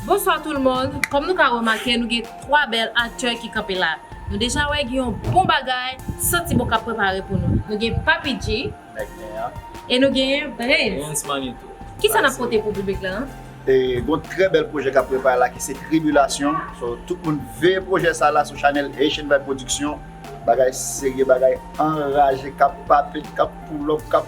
Bonswa tout le monde, kòm nou ka remake nou gen 3 bèl aktè ki kanpe la. Nou deja wè gen yon bon bagay santi bon kap prepare pou nou. Nou gen Papi G e nou genyen Brens Manito. Kisa nap pote pou piblik la? Gon trè bèl pwojè kap prepare la ki se Tribulasyon so tout moun veye pwojè sa la sou chanèl Haitian Vibe Production. Bagay serye, bagay anraje kap pape, kap poulòp, kap.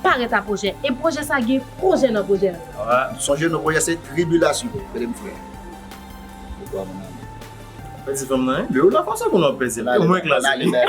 Pa ret a pwojè e pwojè sa gen pwojè nan pwojè l. Sonje non pwojè se tribilasyon tande m frè pou twa moun nan. Wap pèdi fanm nan wi. Lew la konsa konnen wap pèdi l. Mwen klas wi. Nan ale nan.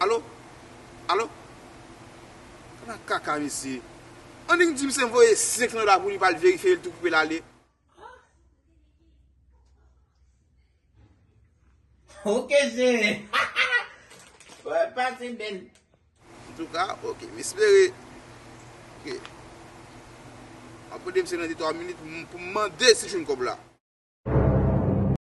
Alo? Alo? Ala kaka mesye. Annik di misye voye 5 nan la pou li pa al verifye el tou pou el ale. Ok chere. Ou pase bel. En tout cas, ok. M espere ke map mande misye nan 2-3 minit pou m mande si jwenn kob la.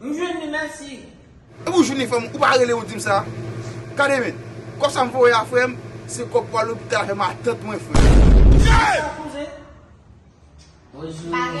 M jwenn li merci. Epi ou jwenn li frèm ou pa rele ou dim sa. Gade men. Kob sa m voye a frèm se kob pou al lopital avè matant mwen frèm. Bonsoir cousin. Bonjour.